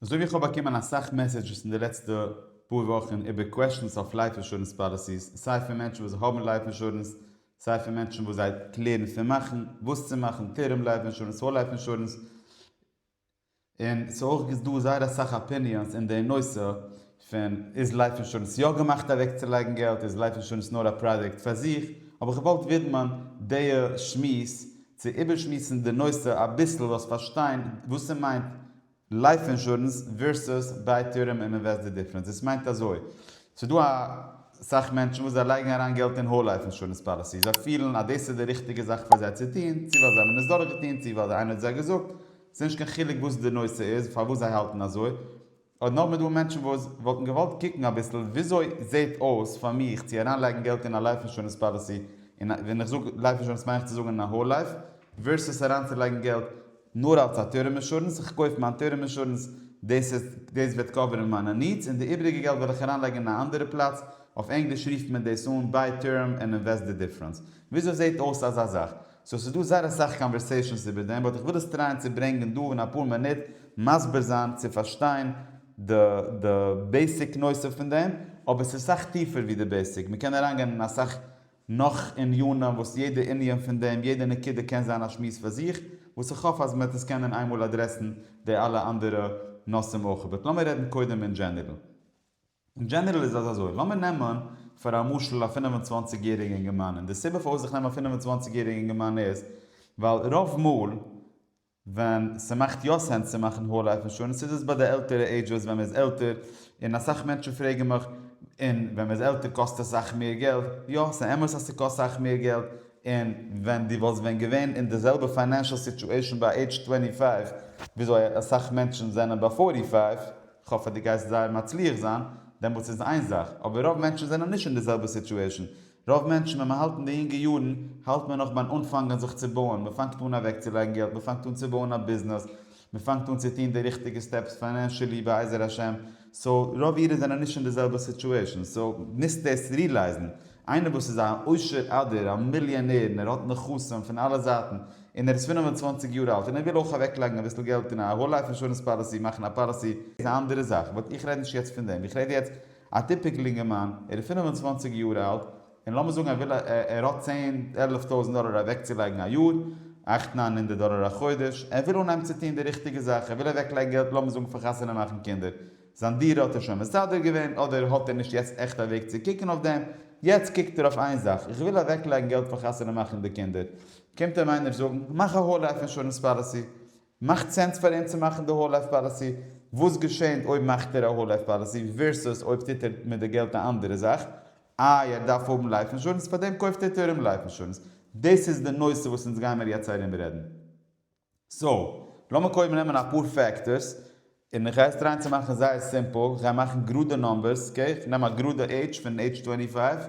אזוי ווי איך האב באקומען אסאך מעסעדזשעס אין די לעצטע פאר וואכן איבער קוועסטשענס אויף לייף אינשורענס פאליסיס, סיי פון מענטשן וואס האבן לייף אינשורענס, סיי פון מענטשן וואס זיי קלערן פון מאכן, וואס צו מאכן, טערם לייף אינשורענס, האול לייף אינשורענס, און ס'איז אויך דא זייער אסאך אפיניאנס אין די נושא, פון איז לייף אינשורענס יא געמאכט אוועקצולייגן געלט איז לייף אינשורענס נאר א פראדוקט פאר זיך, האב איך געוואלט ווידמען דיע שמועס צו איבערשמועסן די נושא אביסל זאלסט פארשטיין וואס ס'מיינט לייף אינשורענס ווערסוס ביי טערם און אינוועסט די דיפרענס איז ס'מיינט אזוי ס'דא א סאך מענטשן וואס זיי לייגן אריין געלט אין האול לייף אינשורענס פאליסי זיי פילן אז דאס איז די ריכטיגע זאך פאר זיי צו טון צו ווייל זיי האבן עס דורכגעטון צו ווייל איינער האט זיי געזאגט ס'נישט קיין חילוק וואס די נושא איז פארוואס זיי האלטן אזוי. אויב נאר מ'דא מענטשן וואס וואלטן געוואלט קוקן אביסל וויאזוי זעהט אויס פאר מיך צו אריינלייגן געלט אין א לייף אינשורענס פאליסי, און ווען איך זאג לייף אינשורענס מיין איך צו זאגן אין א האול לייף, ווערסוס אריינצולייגן געלט נאר אלס א טערם אינשורענס, איך קויף מיין טערם אינשורענס, דאס איז דאס וועט קאווערן מיינע נידס, און די איבריגע געלט וועל איך אריינלייגן אין א אנדערע פלאץ, אויף ענגליש רופט מען דאס אן ביי טערם און אינוועסט די דיפרענס. וויאזוי זעהט אויס אזא זאך? סאו ס'איז דא זייער אסאך קאנווערסעישאנס איבער דעם באט איך וויל עס טרייען צו ברענגען דא און אפאר מינוט מסביר זיין צו פארשטיין די די בעיסיק נושא פון דעם אבער ס'איז סאך טיפער ווי די בעיסיק מ'קען אריינגיין אין אסאך נאך ענינים וואס יעדע ענין פון דעם יעדע נקודה קען זיין א שמועס פאר זיך וואס איך האף אז מ'וועט עס קענען איינמאל אדרעסן די אלע אנדערע נושאים אויך באט לאמיר רעדן קודם אין דזשענערל. אין דזשענערל איז עס אזוי, לאמיר נעמען פאר א משל א פֿינף און צוואַנציק יעריגע אינגערמאן, און די סיבה פארוואס איך נעם א פֿינף און צוואַנציק יעריגע אינגערמאן איז, ווייל רוב מאל ווען ס'מאכט יא סענס צו מאכן האול לייף אינשורענס איז עס ביי די עלטערע עידזשעס ווען מ'איז עלטער, און אסאך מענטשן פרעגן מיך, און ווען מ'איז עלטער קאסט עס סאך מער געלט? יא, ס'איז אמת אז ס'קאסט סאך מער געלט, און ווען דו וואלסט ווען געווען אין די זעלבע פיינענשעל סיטועשאן ביי עידזש טווענטי פייוו וויאזוי אסאך מענטשן זענען ביי פארטי פייוו, כ'האף אז דו גייסט זייער מצליח זיין, דעמאלטס איז איין זאך, אבער רוב מענטשן זענען נישט אין די זעלבע סיטועשן, רוב מענטשן ווען מ'האלט אין די יונגע יארן האלט מען נאך ביים אנפאנגען זיך צו בויען, מ'פאנגט אן אוועקצולייגן געלט, מ'פאנגט אן צו בויען א ביזנעס, מ'פאנגט אן צו טון די ריכטיגע סטעפס פיינענשעלי בעזר השם, סאו רוב אידן זענען נישט אין די זעלבע סיטועשן, סאו מוזט דאס רילייזן, איינער וואס איז א עושר אדער א מיליאנער און ער האט נכסים פון אלע זייטן און ער איז פינף און צוואנציג יאר אלט און ער וויל אויך אוועקלייגן אביסל געלט אין א האול לייף אינשורענס פאליסי מאכן א פאליסי איז א אנדערע זאך באט איך רעד נישט יעצט פון דעם איך רעד יעצט א טיפיקל אינגערמאן ער איז פינף און צוואנציג יאר אלט און לאמיר זאגן ער וויל ער האט צען עלף טויזנט דאלער אוועקצולייגן א יאר אכט ניין הונדערט דאלער א חודש ער וויל אנהייבן צו טון די ריכטיגע זאך ער וויל אוועקלייגן געלט לאמיר זאגן פאר חתונה מאכן קינדער זיין דירה האט ער שוין מסדר געווען אדער האט ער נישט יעצט עכט א וועג צו קוקן אויף דעם, יעצט קוקט ער אויף איין זאך, איך וויל אוועקלייגן געלט פאר חתונה מאכן די קינדער, קומט אים איינער זאגן מאך א האול לייף אינשורענס פאליסי, מאכט סענס פאר אים צו מאכן די האול לייף פאליסי, וואס געשענט אויב מאכט ער א האול לייף פאליסי ווערסוס אויב טוט ער מיט די געלט א אנדערע זאך, איי ער דארף האבן לייף אינשורענס פארדעם קויפט ער טערם לייף אינשורענס, דאס איז די נושא וואס אונז גיימער יעצט ארום רעדן. סא, לאמיר קודם נעמען אפאר פעקטארס, און איך גיי עס טרייען צו מאכן זייער סימפל, איך גיי מאכן גראדע נומבערס, אקעי, איך נעם א גראדע עידזש פון עידזש טווענטי פייוו,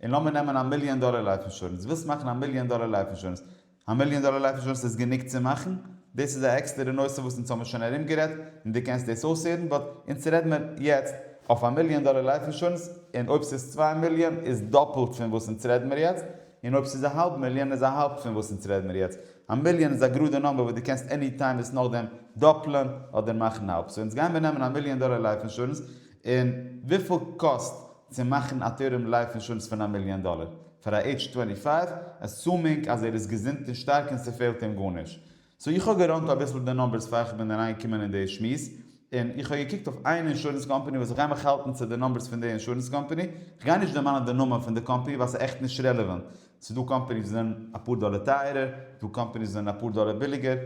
און לאמיר נעמען א מיליאן דאלער לייף אינשורענס, דו ווילסט מאכן א מיליאן דאלער לייף אינשורענס, א מיליאן דאלער לייף אינשורענס איז גענוג צו מאכן? דאס איז א עקסטערע נושא וואס אונז האמיר שוין ארומגערעדט, און דו קענסט דאס אויסהערן, באט אונז רעד מיר יעצט אויף א מיליאן דאלער לייף אינשורענס, און אויב ס'איז צוויי מיליאן איז דאפלט פון וואס אונז רעד מיר יעצט, און אויב ס'איז א האלב מיליאן איז א האלב פון וואס אונז רעד מיר יעצט, א מיליאן איז א גראדע נומבער וואס דו קענסט עני טיים עס נאכדעם דאפלען אדער מאכן האלב. סאו אונז גייען מיר נעמען א מיליאן דאלער לייף אינשורענס, און וויפיל קאסט צו מאכן א טערם לייף אינשורענס פון א מיליאן דאלער פאר א עידזש טווענטי פייוו, עסומינג אז ער איז געזונט און שטארק און ס'פעלט אים גארנישט. סאו איך האב געראנט אביסל די נומבערס פאר איך בין אריינגעקומען אין די שמועס, און איך האב געקוקט אויף איין אינשורענס קאמפאני וואס איך גיי מיך האלטן צו די נומבערס פון די אינשורענס קאמפאני, איך גיי נישט דערמאנען די נאמען פון די קאמפאני ווייל ס'איז עכט נישט רעלעווענט, ס'איז דא קאמפעניס וואס זענען אפאר דאלער טייערער, ס'איז דא קאמפעניס וואס זענען אפאר דאלער ביליגער,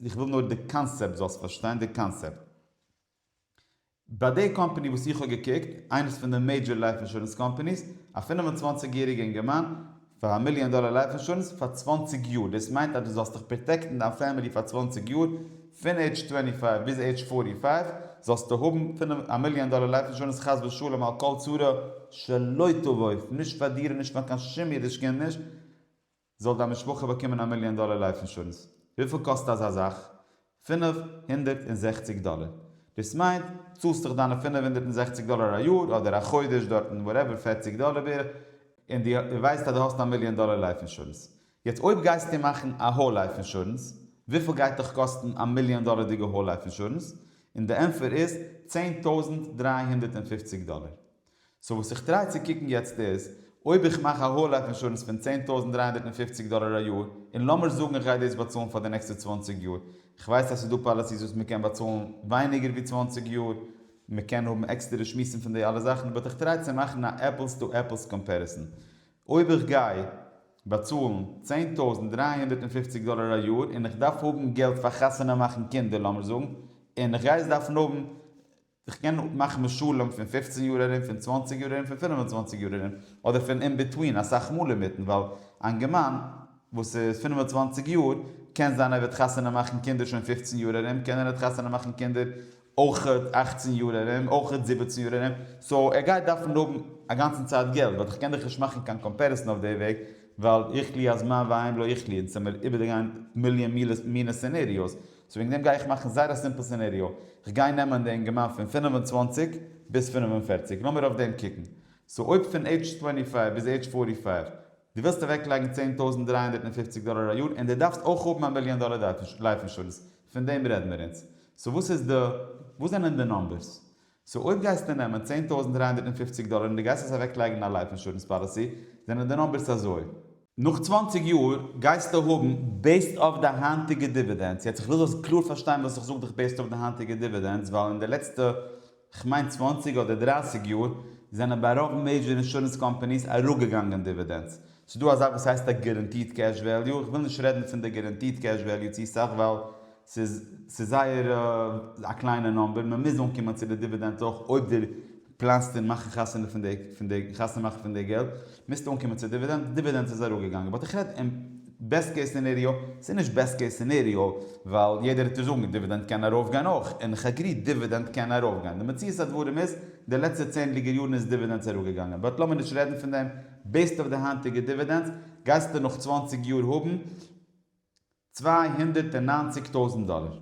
איך וויל נאר די קאנסעפט זאלסט פארשטיין, די קאנסעפט. ביי די קאמפעני וואס איך האב געקוקט, איינס פון די מעידזשער לייף אינשורענס קאמפעניס, א פֿינף און צוואַנציק יעריגע אינגערמאן, פאר א מיליאן דאלער לייף אינשורענס פאר צוואַנציק יאר, דאס מיינט אז דו זאלסט דיך פראטעקטן דיין פעמילי פאר צוואַנציק יאר, פון עידזש טווענטי פייוו ביז עידזש פארטי פייוו זאלסטו האבן פינף א מיליאן דאלער לייף אינשורענס חס ושלום על כל צרה שלא תבוא נישט פאר דיר און נישט פאר קיין שום אידיש קינד נישט זאל דיין משפחה באקומען א מיליאן דאלער לייף אינשורענס וויפיל קאסט אזא זאך? פינף הונדערט און זעכציג דאלער דאס מיינט צאלסט דאך דיינע פינף הונדערט און זעכציג דאלער א יאר אדער א חודש דארטן וואטעווער פערציג דאלער בערך און דו ווייסט אז דו האסט א מיליאן דאלער לייף אינשורענס יעצט אויב גייסטו מאכן א האול לייף אינשורענס, וויפיל גייט דיך קאסטן א מיליאן דאלערדיגע האול לייף אינשורענס? און די ענטפער איז צען טויזנט דרײַ הונדערט און פֿופֿציק דאלער. סאו וואס איך טריי צו קוקן יעצט איז, אויב איך מאך א האול לייף אינשורענס פון צען טויזנט דרײַ הונדערט און פֿופֿציק דאלער א יאר, און לאמיר זאגן איך גיי דאס באצאלן פאר די נעקסטע צוואַנציק יאר, איך ווייס אז ס'איז דא פאליסיס וואס מ'קען באצאלן ווייניגער ווי צוואַנציק יאר, מ'קען האבן עקסטערע שמועסן פון די אלע זאכן, באט איך טריי צו מאכן א עפלס טו עפלס קאמפעריסאן. אויב איך גיי. באצאלן צען טויזנט דרײַ הונדערט און פֿופֿציק דאלער א יאר און איך דארף האבן געלט פאר חתונה מאכן קינדער לאמיר זאגן און איך גיי עס דארפן האבן איך קען מאכן משלים פון פֿופֿצן יאר ארום פון צוואַנציק יאר ארום פון פֿינף און צוואַנציק יאר ארום אדער פון אינביטווין אסאך מאל אינמיטן ווייל א אינגערמאן וואס איז פֿינף און צוואַנציק יאר קען זיין ער וועט חתונה מאכן קינדער שוין פֿופֿצן יאר ארום קען ער ניט חתונה מאכן קינדער אויך אכצן יאר ארום, אויך זיבעצן יאר ארום, סאו ער גייט דארפן האבן אגאנצן צייט געלט, באט איך קען דיך נישט מאכן קיין קאמפעריסן אויף די וועג, ווייל איך לי אז מה ואם לא איך לי, אונז זעמיר איבערדערגיין מיליאן מילעס מינע סענעריאוס, סאו וועגן דעם גיי איך מאכן זייער א סימפל סענעריאו, איך גיי נעמען די אינגערמאן פון פֿינף און צוואַנציק ביז פֿינף און פֿערציק, לאמיר אויף דעם קוקן, סאו אויב פון עידזש טווענטי פייוו ביז עידזש פארטי פייוו, דו ווילסט אוועקלייגן צען טויזנט דרײַ הונדערט און פֿופֿציק דאלער א יאר און דו דארפסט אויך האבן א מיליאן דאלער לייף אינשורענס, פון דעם רעדן מיר אונז. סאו וואס איז די, וואס זענען די נומבערס? סאו אויב גייסטו נעמען צען טויזנט דרײַ הונדערט און פֿופֿציק דאלער און דו גייסט עס אוועקלייגן אין א לייף אינשורענס פאליסי, זענען די נומבערס אזוי. נאך צוואַנציק יאר גייסטו האבן, בעיסד אויף די היינטיגע דיווידענדס, יעצט איך וויל זאלסט קלאר פארשטיין וואס איך זאג דיך בעיסד אויף די היינטיגע דיווידענדס, ווייל אין די לעצטע כ'מיין צוואַנציק אדער דרייסיג יאר, זענען ביי רוב מעידזשער אינשורענס קאמפאניס אראפגעגאנגען דיווידענדס. ס'איז דא א זאך וואס הייסט א גערענטיד קעש וועליו, איך וויל נישט רעדן פון די גערענטיד קעש וועליו צו סאך ווייל ס'איז ס'איז זייער א קליינע נאמבער, מ'מוז אנקומען צו די דיווידענדס אויך אויב דו פלאנסט און מאכן חתונה פון די חתונה מאכן פון די געלט. מוזט אנקומען צו דיווידענד, דיווידענדס איז אראפגעגאנגען, באט איך רעד אין בעסט קעיס סינעריאו, ס'איז נישט בעסט קעיס סינעריאו, ווייל יעדער וועט דיר זאגן דיווידענד קען ארויפגיין אויך, און כ'עגרי דיווידענד קען ארויפגיין, די מציאות הדברים איז, די לעצטע צענדליגער יארן איז דיווידענדס אראפגעגאנגען, באט לאמיר נישט רעדן פון דעם, בעיסד אויף די היינטיגע דיווידענדס, גייסטו נאך צוואַנציק יאר האבן צוויי הונדערט און נײַנציק טויזנט דאלער,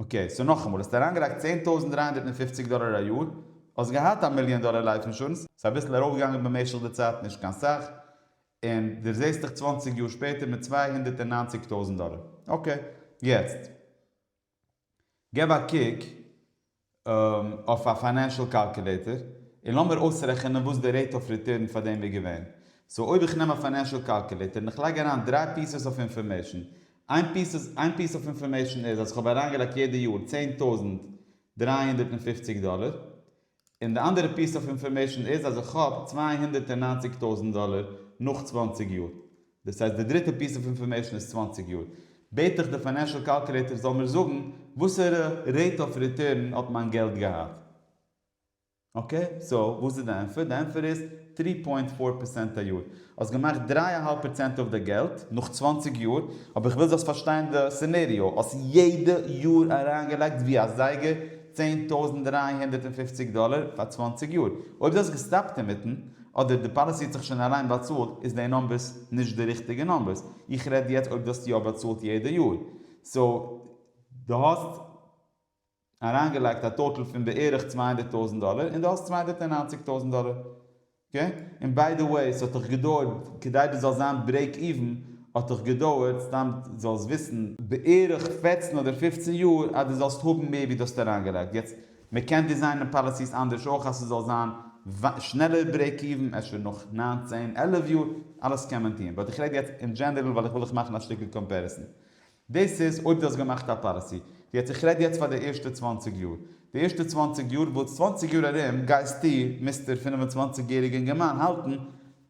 אקעי, סאו נאכאמאל, האסט אריינגעלייגט צען טויזנט דרײַ הונדערט פֿופֿציק דאלער א יאר, האסט געהאט א מיליאן דאלער לייף אינשורענס, ס'איז אביסל ארויפגעגאנגען במשך די צייט, נישט קיין סאך, און דו זעסט דיך צוואַנציק יאר שפעטער מיט צוויי הונדערט און נײַנציק טויזנט דאלער. אקעי, יעצט געב א קוק אויף א פיינענשעל קאלקולעיטער, און לאמיר אויסרעכענען וואס די רעיט אויף ריטורן פאר דעם איז געווען. סאו אויב איך נעם א פיינענשעל קאלקולעיטער און איך לייג אריין דרײַ פיסעס אויף אינפארמעישן, איין פיס איין פיס אוו אינפארמעישן איז אז כ'האב אריינגעלייגט יעדע יאר צען טויזנט דרײַ הונדערט און פֿופֿציק דאלער, און די אנדערע פיס אוו אינפארמעישן איז אז כ'האב צוויי הונדערט און נײַנציק טויזנט דאלער נאך צוואַנציק יאר. דאס הייסט די דריטע פיס אוו אינפארמעישן איז צוואַנציק יאר בעט איך די פיינענשל קאלקולעיטער זאל מיר זאגן וואסערע רעיט אוו ריטורן האט מיין געלט געהאט. אקעי סאו וואס איז די ענפער? די ענפער איז טרי פוינט פאר פערסענט א יאר. האסט געמאכט דריי אהאלב פערסענט אויף די געלט נאך צוואנציג יאר, אבער איך וויל זאלסט פארשטיין די סינעריאו, האסט יעדע יאר אריינגעלייגט ווי א זייגער צען טויזנט דרײַ הונדערט און פֿופֿציק דאלער פאר צוואַנציק יאר. אויב דו האסט געסטאפט אינמיטן, אדער די פאליסי האט זיך שוין אליין באצאלט, איז די נאמבערס נישט די ריכטיגע נאמבערס. איך רעד יעצט אויב דו האסט יא באצאלט יעדע יאר. סאו דו האסט. אריינגעלייגט א טאטעל פון בערך צוויי הונדערט טויזענט דאלער און דו האסט צוויי הונדערט נײַנציק טויזענט דאלער אקעי און ביי די וועי ס'האט דיך געדויערט כדי דו זאלסט זיין ברעיק איווען האט דיך געדויערט סתם זאלסט וויסן בערך פֿערצן אדער פֿופֿצן יאר אז דו זאלסט האבן מער ווי דו האסט אריינגעלייגט יעצט מ'קען דיזיינען פאליסיס אנדערש אויך אז ס'זאל זיין שנעלער ברעיק איווען אפשר נאך נײַן צען עלף יאר אלעס קען מען טון באט איך רעד יעצט אין דזשענערעל ווייל איך וויל דיך מאכן א שטיקל קאמפעריסאן דאס איז אויב דו האסט געמאכט א פאליסי. יעצט איך רעד יעצט פאר די ערשטע צוואַנציק יאר. די ערשטע צוואַנציק יאר וואס צוואַנציק יאר ארום גייסטו, מיסטער פֿינף און צוואַנציק יעריגע אינגערמאן, האלטן,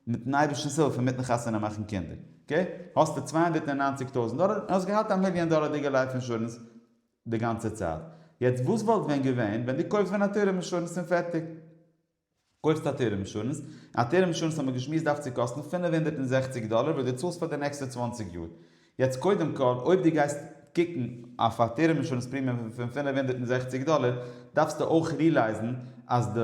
מיטן אייבערשטנ'ס הילף און מיטן חתונה מאכן קינדער. אקעי? האסטו צוויי הונדערט און נײַנציק טויזנט דאלער און האסט געהאט א מיליאן דאלערדיגע לייף אינשורענס די גאנצע צייט. יעצט וואס וואלט ווען געווען ווען דו קויפסט ווען א טערם אינשורענס און פערטיג. קויפסט א טערם אינשורענס, און א טערם אינשורענס האט מען געשמועסט דארף צו קאסטן פֿינף הונדערט און זעכציק דאלער וואס דו צאלסט פאר די נעקסטע צוואַנציק יאר. יעצט קודם כל, אויב דו גייסט קוקן אויף א טערם אינשורענס פרימיום פון פֿינף הונדערט און זעכציק דאלער, דארפסטו אויך רילייזן אז די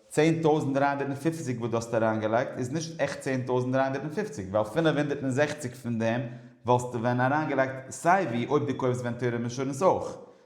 צען טויזנט דרײַ הונדערט פֿופֿציק וואס דו האסט אריינגעלייגט איז נישט עכט צען טויזנט דרײַ הונדערט פֿופֿציק, ווייל פֿינף הונדערט און זעכציק פון דעם וואלסטו ווען אריינגעלייגט סייווי אויב דו קויפסט ווען טערם אינשורענס אויך.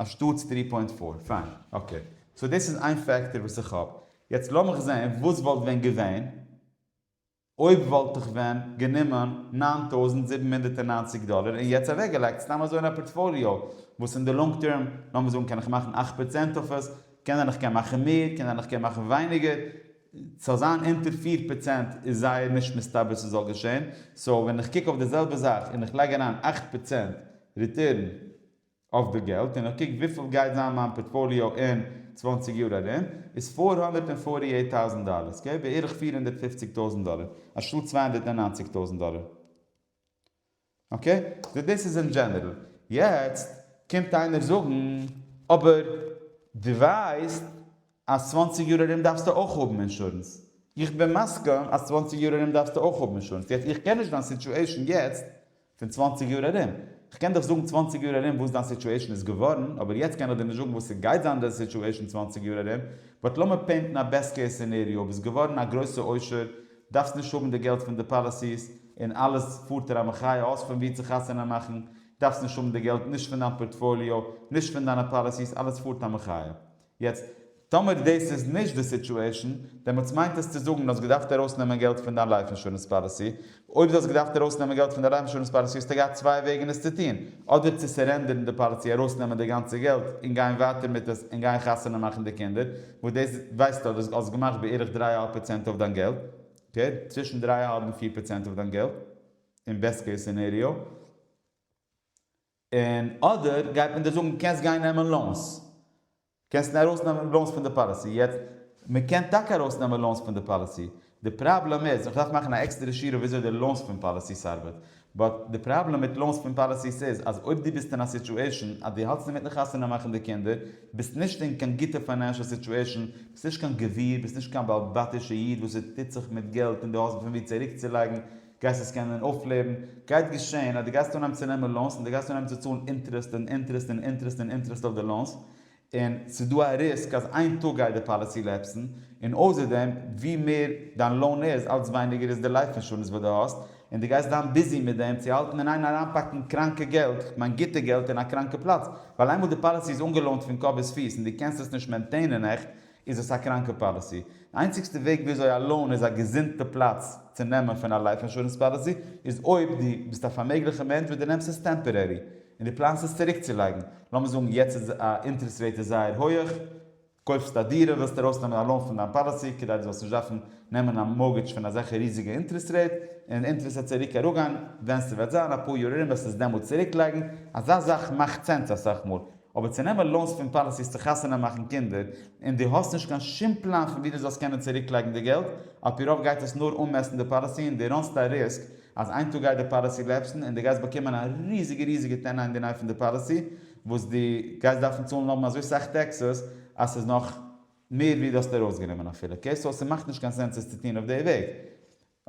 א שטאטס טרי פוינט פאר, פיין, אקעי, סאו דאס איז איין פעקטאר וואס איך האב, יעצט לאמיך זען וואס וואלט ווען געווען אויב וואלט איך ווען גענומען נײַן טויזנט זיבן הונדערט און נײַנציק דאלער און יעצט אוועקגעלייגט סתם אזוי אין א פארטפאליאו וואס אין די לאנג טערם לאמיר זאגן קען איך מאכן אַכט פראצענט אויף עס, קען זיין איך קען מאכן מער, קען זיין איך קען מאכן ווייניגער, סאו זיין אונטער פֿיר פראצענט איז זייער נישט מסתבר ס'זאל געשען, סאו ווען איך קוק אויף די זעלבע זאך און איך לייג אריין אַכט פראצענט ריטערן, אויף די געלט און איך קוק וויפיל גייט זיין מיין פארטפאליאו אין צוואַנציק יאר ארום איז פֿיר הונדערט און פֿאָרטי עיט טאוזענט דאלער ס'איז געווען בערך פֿיר הונדערט פֿופֿציק טויזענט דאלער אנשטאט צוויי הונדערט און נײַנציק טויזענט דאלער אקעי סאו דאס איז אין דזשענערל יעצט קומט איינער זאגן אבער דו ווייסט אז צוואַנציק יאר ארום דארפסטו אויך האבן אינשורענס. איך בין מסכים אז צוואַנציק יאר ארום דארפסטו אויך האבן אינשורענס. יעצט איך קען נישט דיין סיטועשן יעצט פון צוואַנציק יאר ארום. איך קען דיך זאגן צוואַנציק יאר ארום וואס דיין סיטועשן איז געווארן, אבער יעצט קען איך דיר נישט זאגן וואס ס'גייט זיין דיין סיטועשן צוואַנציק יאר ארום. באט לאמיר פעינטן א בעסט קעיס סינעריאו. ביסט געווארן א גרויסע עושר, דארפסט נישט האבן די געלט פון די פאליסיס, און אלעס פארט ער א מחיה, האסט פון וואו צו חתונה מאכן, דארפסט נישט האבן די געלט נישט פון דיין פארטפאליאו, נישט פון דיינע פאליסיס, אלעס פארט א מחיה. יעצט טאמער דאס איז נישט די סיטועשן, דעמאלטס מיינט עס צו זאגן אז האסט געדארפט ארויסנעמען געלט פון דיין לייף אינשורענס פאליסי, אויב דו האסט געדארפט ארויסנעמען געלט פון דיין לייף אינשורענס פאליסי האסטו געהאט צוויי וועגן עס צו טון, אדער צו סערענדערן די פאליסי ארויסנעמען די גאנצע געלט און גיין ווייטער מיט עס און גיין חתונה מאכן די קינדער, וואס דאס ווייסטו אז דו האסט געמאכט בערך דריי אהאלב פראצענט אויף דיין געלט, אקעי צווישן דריי אהאלב און פיר פראצענט אויף דיין געלט, אין בעסט קעיס סינעריאו. און אדער גייט מען דיר זאגן קענסט גיין נעמען לאונס, קענסט ארויס נעמען לאונס פון די פאליסי, יעצט מען קען טאקע ארויס נעמען לאונס פון די פאליסי, די פראבלעם איז, איך דארף מאכן א עקסטערע שיעור אויף וויאזוי די לאונס פון פאליסיס ארבעט, באט די פראבלעם מיט לאונס פון פאליסיס איז אז אויב דו ביסט אין א סיטועשן אז דו האלטסט אינמיטן חתונה מאכן די קינדער, ביסט נישט אין קיין גוטע פיינענשעל סיטועשן, ביסט נישט קיין גביר, ביסט נישט קיין בעל בתישע איד וואס עס טוט זיך מיט געלט און דו האסט פון ווי צוריקצולייגן, גייסט עס קענען אויפלעבן? גייט געשען אז דו גייסט אנהייבן צו נעמען לאונס און דו גייסט אנהייבן צו צאלן אינטערעסט און אינטערעסט און אינטערעסט און אינטערעסט אויף די לאונס, און ס'איז דא א ריסק אז איין טאג גייט די פאליסי לעפסן, און אויסער דעם ווי מער דיין לאון איז אלץ ווייניגער איז די לייף אינשורענס וואס דו האסט, און דו גייסט זיין ביזי מיט דעם צו האלטן און איין אריינפאקן קראנקע געלט, כ'מיין גוטע געלט אין א קראנקע פלאץ, ווייל איינמאל די פאליסי איז אנגעלאונט פון קאפ ביז פיס און דו קענסט עס נישט מעינטעינען עכט, איז עס א קראנקע פאליסי. די איינציגסטע וועג וויאזוי א לאון איז א געזונטע פלאץ צו נעמען פון א לייף אינשורענס פאליסי איז אויב דו ביסט א פארמעגליכע מענטש וואס דו נעמסט עס טעמפארערי און דו פלאנסט עס צוריקצולייגן. לאמיר זאגן יעצט איז א אינטערעסט רעיט איז זייער הויעך, קויפסט א דירה, ווילסט ארויסנעמען א לאון פון דיין פאליסי כדי דו זאלסט נישט דארפן נעמען א מארגעדזש פון אזעלכע ריזיגע אינטערעסט רעיט, און די אינטערעסט וועט צוריק אראפגיין ווען ס'וועט זיין אפאר יאר ארום וועסטו עס דעמאלטס צוריקלייגן, אזא זאך מאכט סענס אסאך מאל, אבער צו נעמען לאונס פון פאליסיס צו חתונה מאכן קינדער, און דו האסט נישט קיין שום פלאן פון ווי דו זאלסט קענען צוריקלייגן די געלט, על פי רוב גייט עס נאר אנמעסטן די פאליסי און דו ראנסט א ריסק אז איין טאג גייט די פאליסי לעפסן און דו גייסט באקומען א ריזיגע ריזיגע טענה אינדערניי פון די פאליסי וואס דו גייסט דארפן צאלן האבן אזוי סאך טעקסעס אז ס'איז נאך מער ווי דו האסט ארויסגענומען אפילו. אקעי סאו ס'מאכט נישט קיין סענס עס צו טון אויף די וועג.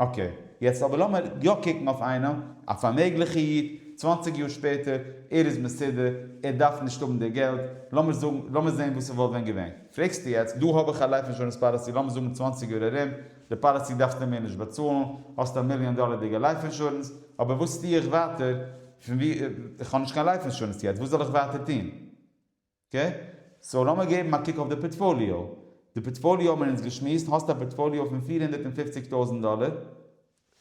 אקעי, יעצט אבער לאמיר יא קוקן אויף איינעם, א פארמעגליכע איד, צוואנציג יאר שפעטער, ער איז מסודר, ער דארף נישט האבן די געלט, לאמיר זאגן, לאמיר זען וואס ס'וואלט ווען געווען. פרעגסטו יעצט, דא האב איך א לייף אינשורענס פאליסי לאמיר זאגן צוואנציג יאר ארום, די פאליסי דארפסטו מער נישט באצאלן, האסט א מיליאן דאלערדיגע לייף אינשורענס, אבער וואס טו איך ווייטער, איך האב נישט קיין לייף אינשורענס יעצט, וואס זאל איך ווייטער טון? אקעי, סאו לאמיר געבן א קוק אויף די פארטפאליאו. די פארטפאליאו האבן מיר אונז געשמועסט, האסט א פארטפאליאו פון פֿיר הונדערט און פֿופֿציק טויזנט דאלער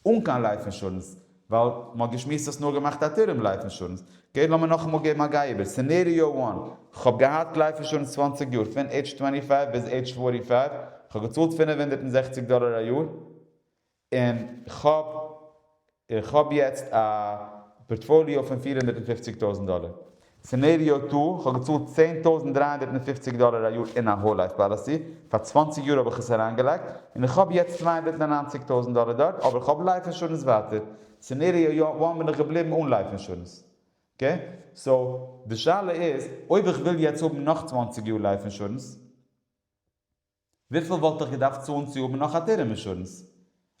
אן קיין לייף אינשורענס, ווייל מען האט געשמועסט האסט נאר געמאכט א טערם לייף אינשורענס, אקעי לאמיר נאכאמאל געבן א גיי איבער, סינעריאו וואן, כ'האב געהאט לייף אינשורענס צוואַנציק יאר, פון עידזש טווענטי פייוו ביז עידזש פארטי פייוו, כ'האב געצאלט פֿינף הונדערט און זעכציק דאלער א יאר, און כ'האב און כ'האב יעצט א פארטפאליאו פון פֿיר הונדערט פֿופֿציק טויזנט דאלער. סענעריאו טו, כ'האב געצאלט צען טויזנט דרײַ הונדערט פֿופֿציק דאלער א יאר אין א האול לייף פאליסי, פאר צוואַנציק יאר האב איך עס אריינגעלייגט, און איך האב יעצט צוויי הונדערט נײַן און נײַנציק טויזנט דאלער דארט, אבער כ'האב לייף אינשורענס ווייטער. סענעריאו וואן בין איך געבליבן אן לייף אינשורענס. אקעי? סאו, די שאלה איז, אויב איך וויל יעצט האבן נאך צוואַנציק יאר לייף אינשורענס, וויפיל וואלט איך געדארפט צאלן צו האבן נאך א טערם אינשורענס?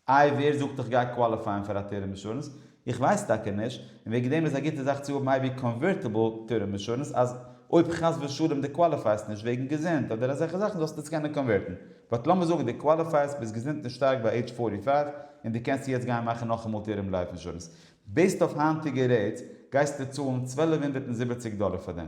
איי ווער זאגט איך גיי קוואליפייען פאר א טערם אינשורענס? איך ווייס טאקע נישט, און וועגן דעם איז א גוטע זאך צו האבן אייווי קאנווערטיבל טערם אינשורענס אז אויב חס ושלום די קוואליפייסט נישט וועגן געזונט אדער אזעלכע זאכן זאלסטו עס קענען קאנווערטן, באט לאמיר זאגן די קוואליפייסט ביסט געזונט און שטארק ביי עידזש פארטי פייוו און די קענסט יעצט גיין מאכן נאכאמאל טערם לייף אינשורענס, בעיסט אויף היינטיגע רעיטס גייסטו צאלן צוועלף הונדערט און זיבעציק דאלער פאר דעם.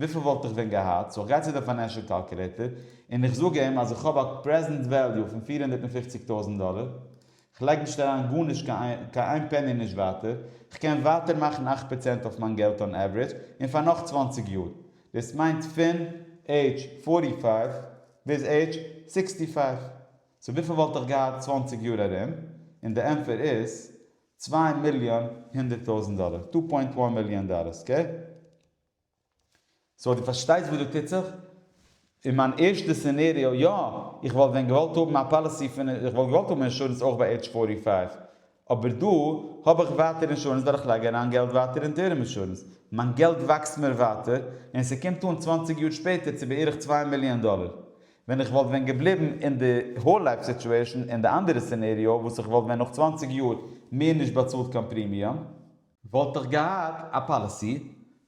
וויפיל וואלט איך ווען געהאט? סאו איך גיי צו די פיינענשעל קאלקולעיטער און איך זאג אים אז איך האב א פרעזענט וועליו פון פֿיר הונדערט פֿופֿציק טויזענט דאלער, כ'לייג נישט אריין גארנישט קיין איין פעני נישט ווייטער, כ'קען ווייטער מאכן אַכט פראצענט אויף מיין געלט אן עווערעדזש און פאר נאך צוואַנציק יאר, דאס מיינט פון עידזש פֿאָרטי פֿייוו ביז עידזש סיקסטי פֿייוו, סאו וויפיל וואלט איך געהאט צוואַנציק יאר ארום? און די ענטפער איז צוויי מיליאן הונדערט טויזענט דאלער, טו פוינט וואן מיליאן דאלער, אקעי? סאו דו פארשטייסט וואס דא טוט זיך? אין מיין ערשטע סינעריאו, יא, איך וואלט ווען געוואלט האבן א פאליסי פון, איך וואלט געוואלט האבן אינשורענס אויך ביי עידזש פארטי פייוו, אבער דא האב איך ווייטער אינשורענס ווייל איך לייג אריין געלט ווייטער אין טערם אינשורענס, מיין געלט וואקסט מיר ווייטער, און ס'קומט אן צוואנציג יאר שפעטער צו בערך צוויי מיליאן דאלער. ווען איך וואלט ווען געבליבן אין די האול לייף סיטועשן אין די אנדערע סינעריאו וואס איך וואלט ווען נאך צוואַנציק יאר מער נישט באצאלט קיין פרימיום, וואלט איך געהאט א פאליסי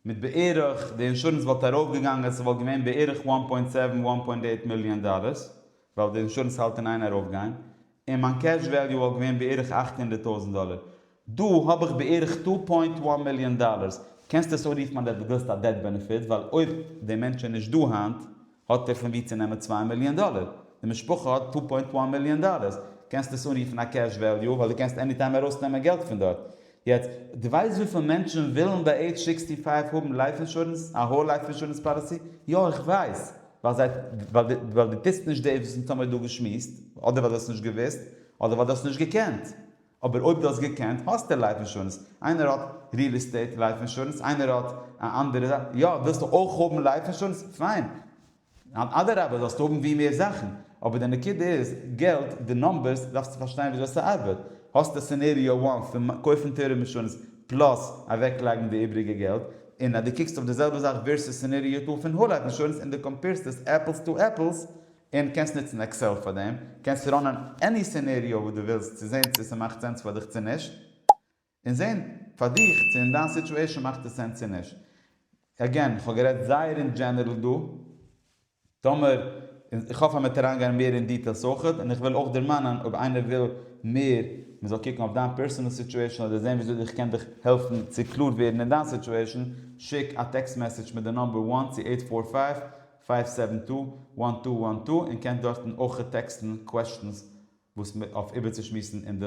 מיט בערך, די אינשורענס וואלט ארויף געגאנגען, ס'וואלט געווען בערך וואן פוינט סעווען, וואן פוינט עיט מיליאן דאלערס, ווייל די אינשורענס האלט אין איין ארויף גיין, און מיין קעש וועליו וואלט געווען בערך אַכט הונדערט טויזנט דאלער, דא האב איך בערך טו פוינט וואן מיליאן דאלערס, קענסט עס אויך רופן אז דער באדארפט א דעט בענעפיט, ווייל אויב דער מענטש איז נישט דא היינט האט ער פון ווי צו נעמען צוויי מיליאן דאלער, די משפחה האט טו פוינט וואן מיליאן דאלערס, קענסט עס אנרופן א קעש וועליו, ווייל דו קענסט עניטיים ארויסנעמען געלט פון דארט. יעצט, דו ווייסט וויפיל מענטשן ווילן ביי עידזש סיקסטי פייוו האבן לייף אינשורענס, א האול לייף אינשורענס פאליסי? יא איך ווייס, ווייל זיי, ווייל דו טוסט נישט דאס וואס אונז האמיר דא געשמועסט, אדער ווייל דו האסט נישט געוואוסט, אדער ווייל דו האסט נישט געקענט. אבער אויב דו האסט געקענט, האסטו לייף אינשורענס. איינער האט ריעל עסטעיט לייף אינשורענס, איינער האט א אנדערע זאך, יא, ווילסטו אויך האבן לייף אינשורענס? פיין, ניין אדרבה זאלסטו האבן ווי מער זאכן, אבער די נקודה איז געלט, די נאמבערס דארפסטו פארשטיין וויאזוי ס'ארבעט, האסטו סענעריאו וואן פון קויפן טייערע מאשינס פלאס אוועקלייגן די איבריגע געלט, און אז דו קוקסט אויף די זעלבע זאך ווערסוס סענעריאו טו פון האול לייף אינשורענס און דו קאמפעירסט עס עפלס טו עפלס, און קענסט נוצן עקסעל פאר דעם, קענסטו ראנען עני סענעריאו וואס דו ווילסט צו זען צו ס'מאכט סענס פאר דיך צו נישט. און זעהן פאר דיך צו אין דיין סיטשועישאן מאכט עס סענס צו נישט. עגעין, כ'האב גערעדט זייער אין דזשענערל דא. טאמער, און איך האף אז מ'וועט אריינגיין מער אין דיטעילס אויך, און איך וועל אויך דערמאנען אויב איינער וויל מער מ'זאל קוקן אויף דיין פערסענעל סיטשועישאן אדער זעהן וויאזוי איך קען דיך העלפן צו קלאר ווערן אין דיין סיטשועישאן, שיק א טעקסט מעסעדזש מיט די נומבער וואן צו עיט פאר פייוו, פייוו סעווען טו, וואן טו וואן טו און קענסט דארטן אויך טעקסטן קוועשטענס וואס מ אויף איבערצושמועסן אין די.